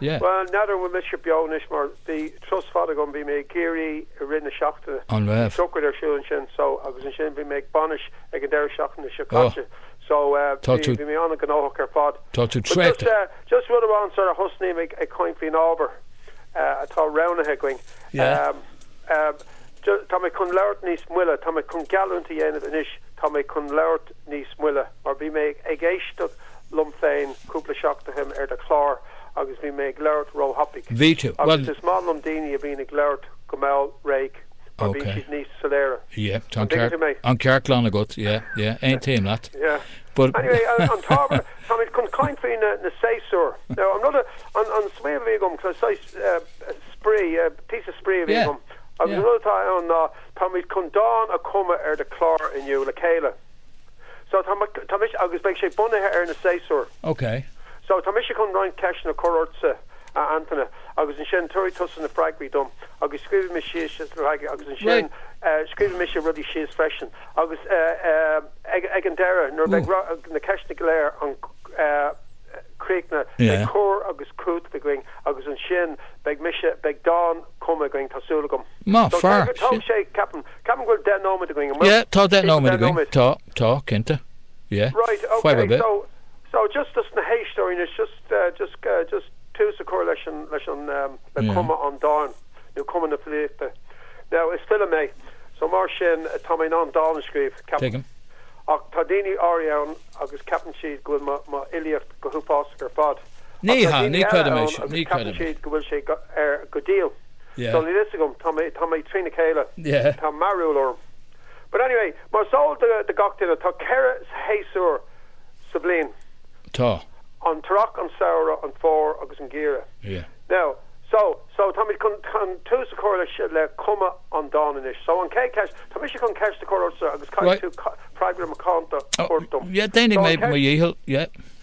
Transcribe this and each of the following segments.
Yeah. Bhuel, n'fheadar an bhfuil mise beo anois mar bhí turas fada agam, bhí mé i gCiarraí i rith na seachtaine, An bhí raibh? sochraid ar siúl ansin so agus ansin bhí mé ag bainis ag an deireadh seachtaine seo Oh. caite so eh Tá bhí, tú, bhí mé an-ghnóthach ar fad. tá tú But just, traochta. eh, just rud amháin sara thosnaím ag, ag caint faoin ábhar eh atá roghnaithe againn, Yeah. em, em, ju- tá mé chun labhairt níos moille, tá mé chun geallúint a dhéanamh anois, tá mé chun labhairt, níos moille mar bhí mé ag éisteacht liom féin cúpla seachtain ó shin ar do chlár agus bhí mé ag labhairt ró-thapaidh. Bhí tú. Agus Bhuel, is maith liom daoine a bhíonn ag labhairt go mall réidh mar bíonn okay. siad níos soiléire. Yeah, tá An an dtuigeann tú ceart, mé? an ceart glan agat. Yeah, yeah, aontaím leat. Yeah. But Anyway, an an t-ábhar, táimid chun caint faoi na na séasúir. Now, an rud a, an an smaoineamh a bhí agam, cos saghas eh, spraoi, eh, píosa spraoi a bhí yeah, agam agus an yeah. rud atá ann ná, Táimid chun dán a chumadh ar do chlár inniu le chéile. So, tá, tá mise, agus beidh sé bunaithe ar na séasúir. OK. So, tá mise chun roinnt ceisteanna a chur ortsa, a Antaine, agus ansin tabharfaidh tusa na freagraí dom agus scríobhfaidh mé síos na freagraí agus ansin scríobhfaidh mise rudaí síos freisin agus ag, ag an deireadh, nuair a bheidh na ceisteanna go léir an, críochnaithe, beidh cur agus cúiteamh againn agus ansin beidh mise, beidh dán. cumtha againn, tá súil agam. Maith fear, sin. Ceapaim go bhfuil deich nóiméad againn, an bhfuil? Yeah, tá deich nóiméad againn, tá, tá, cinnte. Yeah, fair a bit. So, just dos na héisteoirí anois, just, just, just tús a chur leis an, leis an, le cumadh an dáin, nó cumadh na filíochta. Now, is file mé, so mar sin, tá mé in ann dán a scríobh, ceapaim. Tuigim. Ach tá daoine áirithe ann agus ceapann siad go bhfuil mo, mo fhilíocht go huafásach ar fad. ceart Ní ach tá hea, daoine ní eile chreidim é ann sin, agus ní ceapann chreidim é. siad go bhfuil sé ar go diail. Yeah. So níl fhios agam, tá mé, tá mé trína chéile, Yeah. tá mearbhall orm. But anyway, mar is eol do, do gach duine, tá ceithre shéasúr sa bhliain. Tá. An t-earrach, an samhradh, an fómhar agus an geimhreadh. Yeah. Now, so, so táimid chun, chun tús a chur le, le cumadh an dáin anois. So an chéad cheist, tá mise chun ceist a chur ortsa agus caithfidh Right. tú ca, freagra macánta a thabhairt dom. Oh, yeah, déanfaidh So an mé mo cheist. dhícheall, yeah.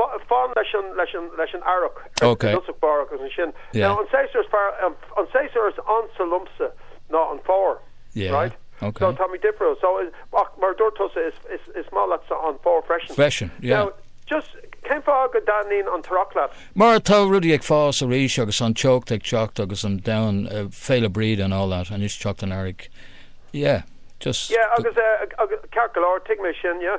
Fan leis an leis an leis an earrach ar dtosach báire agus ansin now an séasúr is fearr an séasúr is ansa liomsa ná an fómhar right so tá mé difriúil so ach mar a dúirt tusa is is is maith leatsa an fómhar freisin freisin now just cén fáth go dtaitníonn an t-earrach leat mar tá rudaí ag fás arís agus an teocht ag teacht agus an domhan Féile Bríde and all that anois teacht an earraigh yeah just yeah agus agus ceart go leor tuigim é sin yeah.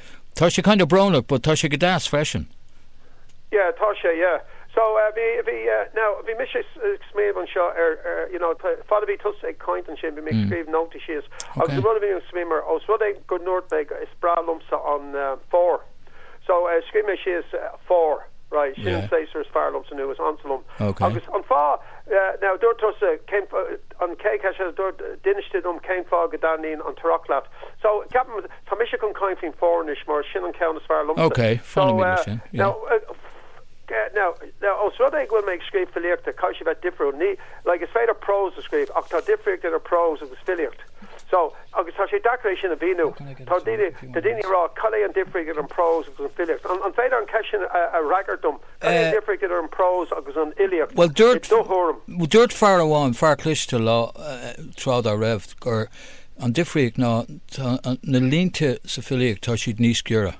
Tá sé kind of brónach but tá sé go deas freisin. Yeah, tá sé, yeah. So, bhí, bhí, now, bhí mise ag smaoineamh anseo ar, you know, fad a bhí tusa ag caint ansin bhí mé ag scríobh nótaí síos agus an rud a bhí mé ag smaoineamh air, os rud é go ndúirt mé go, is breá liomsa an Fómhar, so, scríobh mé síos Fómhar, right, sin an séasúr is fearr liomsa nó is ansa liom agus an fáth, now, dúirt tusa cén fáth, an chéad cheist eile, dúirt, d'inis tú dom cén fáth go dtaitníonn an t-earrach leat. So, ceapaim. Tá mise chun caint faoin bhfómhar anois mar sin an ceann is fearr liomsa. Ok, fanfaimid leis sin, yeah. Now, now, os rud é go bhfuil mé ag scríobh filíochta, caithfidh sé bheith difriúil. Ní, like, is féidir prós a scríobh ach tá difríocht idir prós agus filíocht. So, agus tá sé deacair é sin a mhíniú. Tá daoine, tá daoine ag rá cad é an difríocht idir an prós agus an filíocht. An, an féidir an ceist sin a, a fhreagairt dom? Cad é an difríocht idir an prós agus an fhilíocht, i do thuairim? Bhuel, dúirt, dúirt fear amháin, fear cliste lá, tráth dá raibh gur. An difríocht ná, tá na línte sa filíocht, tá siad níos giorra.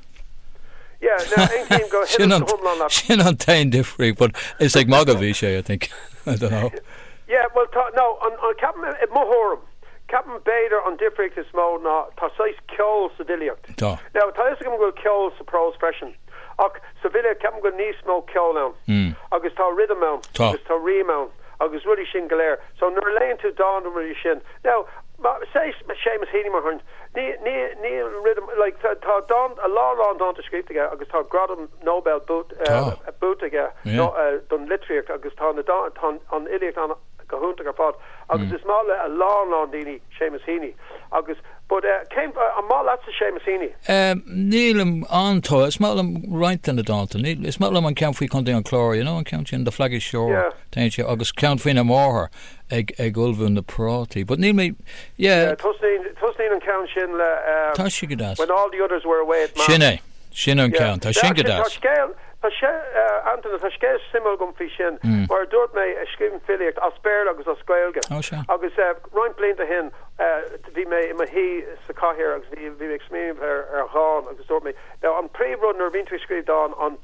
Yeah, now, Antaine, go huile is go hiomlán leat. Sin an t-aon difríocht, but is ag magadh a bhí sé, I think, I don't know. Yeah, well, tá, now, an, ceapaim, i mo thuairim, ceapaim b'fhéidir an difríocht is mó ná tá saghas ceol sa bhfilíocht. Tá. Now, tá a fhios agam go bhfuil ceol sa bprós freisin, ach sa bhfilíocht ceapaim go bhfuil níos mó ceol ann. Mm. Agus tá rhythm ann. Tá. Agus tá rím ann agus rudaí sin go léir. So nuair a léann tú dán nó rudaí sin, now, Séamus Heaney, mar shampla. Níl rithim, like, tá dán, a lán lán dánta scríofa aige agus tá gradam Nobel buaite aige don litríocht agus tá na dánta, tá an fhilíocht ann go hiontach ar fad agus is maith le a lán lán daoine Séamus Heaney agus, but, cén, an maith leatsa Séamus Heaney? Nílim an-tógtha, is maith liom roinnt de na dánta, níl, is maith liom an ceann faoi Chontae an Chláir, you know, an ceann sin, The Flaggy Shore, tá sé, agus ceann faoina mháthair. ag ag ullmhú na prátaí but níl mé yeah. Tosnaíonn tosnaíonn an ceann sin le um Tá sé go deas. when all the others were away at Sin mass. é. Sin an Yeah. ceann. Tá sin go Actually tá deas. scéal tá sé uh Antaine tá scéal suimiúil agam faoi sin. Mm. Mar a dúirt mé eh, scríobhaim filíocht as Béarla agus as Gaeilge. Ó, sea. Agus eh, roinnt blianta ó shin eh, bhí mé i mo shuí sa chathaoir agus bhí bhí mé ag smaoineamh ar ar dhán agus dúirt mé now an príomhrud nuair a bhíonn tú ag scríobh dán an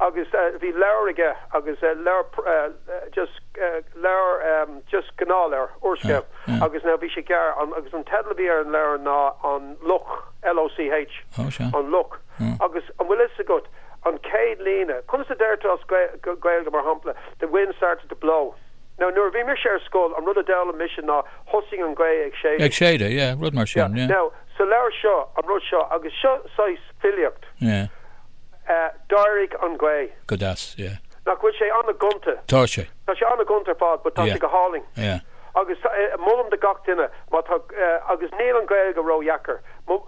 agus bhí leabhar aige agus leabhar just leabhar just gnáthleabhar úrscéal agus now bhí sé gearr an agus an teideal a bhí ar an leabhar ná an loch LOCH an loch agus an bhfuil a fhios agat an chéad líne conas a deirtear as Gaeilge mar shampla the wind started to blow nó nuair a bhí mise ar scoil an rud a d'fhoghlaim mise ná thosaigh an ghaoth ag séideadh ag séideadh yeah rud mar sin yeah now sa leabhar seo an rud seo agus seo saghas filíocht yeah. D'éirigh an ghaoth. Go deas, yeah. Nach bhfuil sé an-gonta? Tá sé. Tá sé an-gonta ar fad but tá sé go hálainn. Yeah, yeah. Agus molaim do gach duine má tá, agus níl an Ghaeilge ródheacair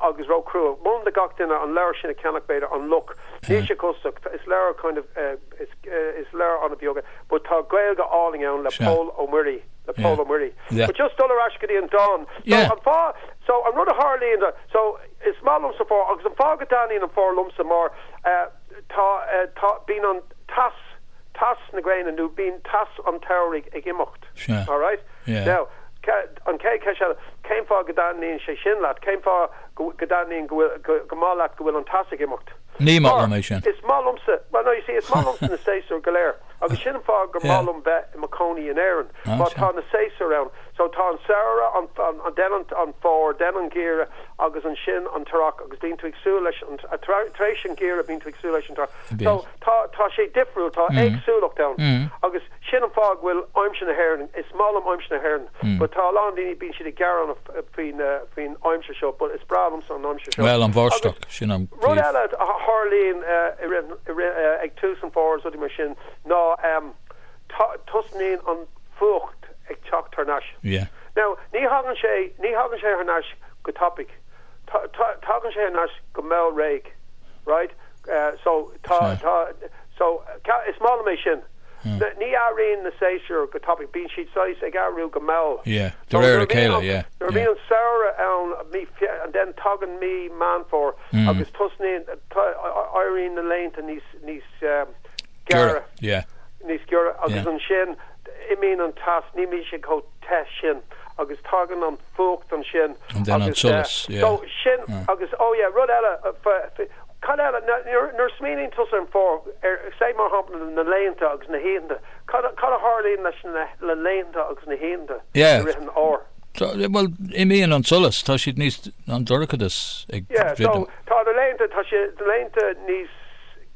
agus róchrua, molaim do gach duine an leabhar sin a cheannach b'fhéidir, An Luch. Níl sé costach, is leabhar kind of, is leabhar an-bheag but tá Gaeilge álainn ann le Pól Ó Muirí, le Pól Ó Muirí. But just dul ar ais go dtí an dán. So an fáth, so an rud a tharlaíonn, so. Is maith liomsa an fómhar, agus an fáth go dtaithníonn an fómhar liomsa mar tá, tá, bíonn an teas, teas na gréine nó bíonn teas an tsamhraidh ag imeacht, alright. Now, an chéad cheist eile, cén fáth go dtaithníonn sé sin leat, cén fáth go dtaithníonn, go bhfuil, go maith leat go bhfuil an teas ag imeacht? Ní maith liom é sin. Mar is maith liomsa, well no you see is maith liomsa na séasúir go léir agus sin an fáth gur maith liom bheith i mo chónaí in Éirinn mar tá na séasúir ann. So tá an samhradh an, an, den an, an fómhar, den an geimhreadh agus ansin an t-earrach agus bíonn tú ag súil leis an, tar éis an geimhreadh bíonn tú ag súil leis an t-earrach. So Bíonn. tá, tá sé difriúil, tá Mm. éagsúlacht ann Mm. agus sin an fáth go bhfuil aimsir na hÉireann, is maith liom aimsir na hÉireann Mm. but tá a lán daoine, bíonn siad ag gearán faoi, uh, faoin, uh, faoin aimsir seo but is breá liomsa an aimsir seo Bhuel, an bháisteach, agus, sin an rud eile a tharlaíonn, uh, i rith, i rith, uh, ag tús an fómhair is rudaí mar sin ná, um, Tosnaíonn an fuacht ag teacht thar nais. Now, ní thagann sé, ní thagann sé thar nais go tapaidh. Tagann sé thar nais go mall réidh, right? So, tá, tá, so, is maith liom é sin. Ní athraíonn na séasúir go tapaidh, bíonn siad saghas ag athrú go mall. Yeah, de réir a chéile, yeah. Nuair a bhíonn an samhradh ann, mí, and then tagann mí Meán Fómhair agus tosnaíonn, éiríonn na laethanta níos, níos, Giorra, yeah. Níos giorra agus ansin imíonn an teas, ní bhíonn sé chomh te sin agus tagann an fuacht ansin agus so sin agus oh yeah rud eile cad eile nuair a smaoiníonn tusa ar an fómhar, say mar shampla na laethanta agus na hoícheanta cad a tharlaíonn leis na laethanta agus na hoícheanta i rith an fhómhair? Bhuel imíonn an solas, tá siad níos, an dorchadas ag druidim. Yeah so tá na laethanta, tá na laethanta níos,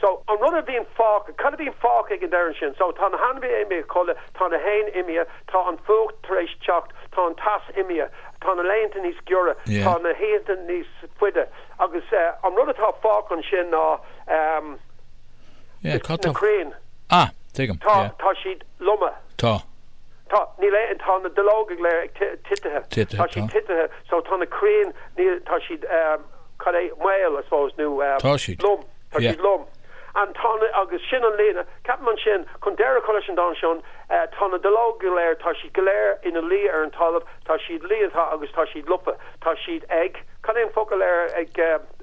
So, an rud a bhíonn fágtha, cad a bhíonn fágtha ag an deireadh ansin? So, tá na hainmhithe imithe a chodladh, tá na héin imithe, tá an fuacht tar éis teacht, tá an teas imithe, tá na laethanta níos giorra, tá na hoícheanta níos faide agus an rud atá fágtha ansin ná na crainn, tá siad loma, tá, níl aon, tá na duilleoga go léir titithe, tá siad titithe. So tá na crainn, tá siad, cad é, maol, I suppose, nó Tá siad, lom, tá yeah. siad lom. And tá na, agus sin an líne, ceapaim ansin, chun deireadh a chur leis an dán seo, tá na duilleoga go léir, tá siad go léir ina luí ar an talamh, tá siad leáite agus tá siad lofa, tá siad ag, cad é an focal ar ag,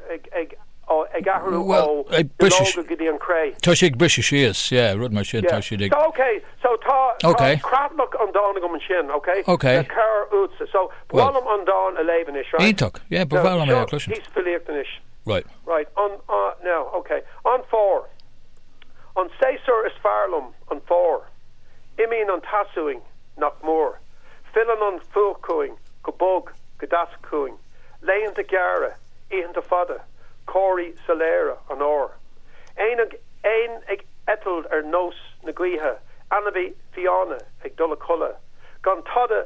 ag, ag, ó, ag athrú ó Well, ag briseadh, duilleoga go dtí an chré. tá siad ag briseadh síos, yeah, rud mar sin, tá Yeah. siad ag, So, okay, so tá, tá okay. creatlach an dáin agam ansin, okay? okay. Le cabhair uaitse. So. Bhuel. Ba mhaith liom an dán a léamh anois, right? Iontach. Yeah, ba bhreá liom é a chloisint. Seo píosa filíochta anois. Right. Right. An, ah, now, ok. An Fómhar. An séasúr is fearr liom, an Fómhar. Imíonn an teas uainn, nach mór. Filleann an fuacht chugainn, go bog, go deas chugainn. Laethanta gearra, oícheanta fada, comharthaí soiléire an Fhómhair. Éin ag, éin ag eitilt ar nós na gaoithe, ainmhithe fiáine ag dul a chodladh, gan tada,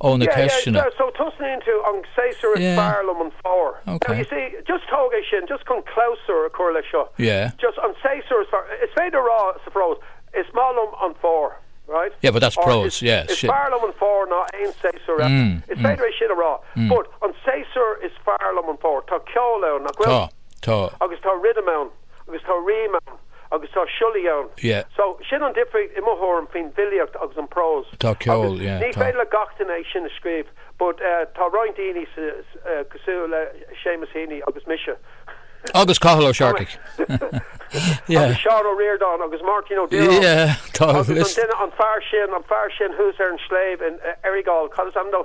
ó na Yeah, yeah, ceisteanna. so tosnaíonn tú, an séasúr is Yeah, fearr liom an fómhar. Now, you okay. see, just tóg é sin, just chun clabhsúr a chur leis seo, Yeah. just an séasúr is fearr, is féidir a rá sa bprós, is maith liom an fómhar, right? Yeah, but that's Or is, prose, yeah, is shit. fearr liom an fómhar ná aon séasúr eile. Mm, Is mm, féidir é sin a rá, mm. but an séasúr is fearr liom an fómhar, tá ceol ann, nach Tá, bhfuil? tá. Agus tá rhythm ann. agus tá rím ann agus tá siollaí ann Yeah. so sin an difríocht i mo thuairim faoin bhfilíocht agus an prós Tá ceol ann, agus yeah, ní tá. féidir le gach duine é sin a scríobh but eh tá roinnt daoine sa eh cosúil le Seamus Heaney agus mise Agus Cathal Ó Searcaigh. Yeah. agus Seán Ó Ríordáin agus Máirtín Ó Direáin Yeah, tá a agus an list. duine an fear sin an fear sin thuas ar an sléibh in eh, Errigal cad is ainm dó?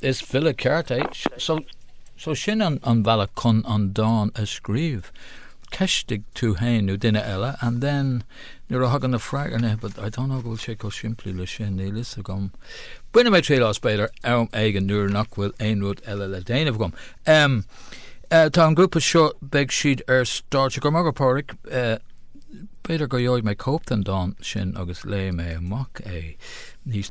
Is file ceart é. So sin an bealach chun an dán a scríobh. Ceistigh tú fhéin nó duine eile and then nuair a thagann na freagraí but I don't know go bhfuil sé chomh simplí leis sin, níl fhios agam. Bainfidh mé triail as b'fhéidir am éigin nuair nach bhfuil aon rud eile le déanamh agam. Em tá an grúpa seo beidh siad ar stáitse go raibh maith agat Pádraig. B'fhéidir go gheobhaidh mé cóip den dán sin agus léifidh mé amach é níos.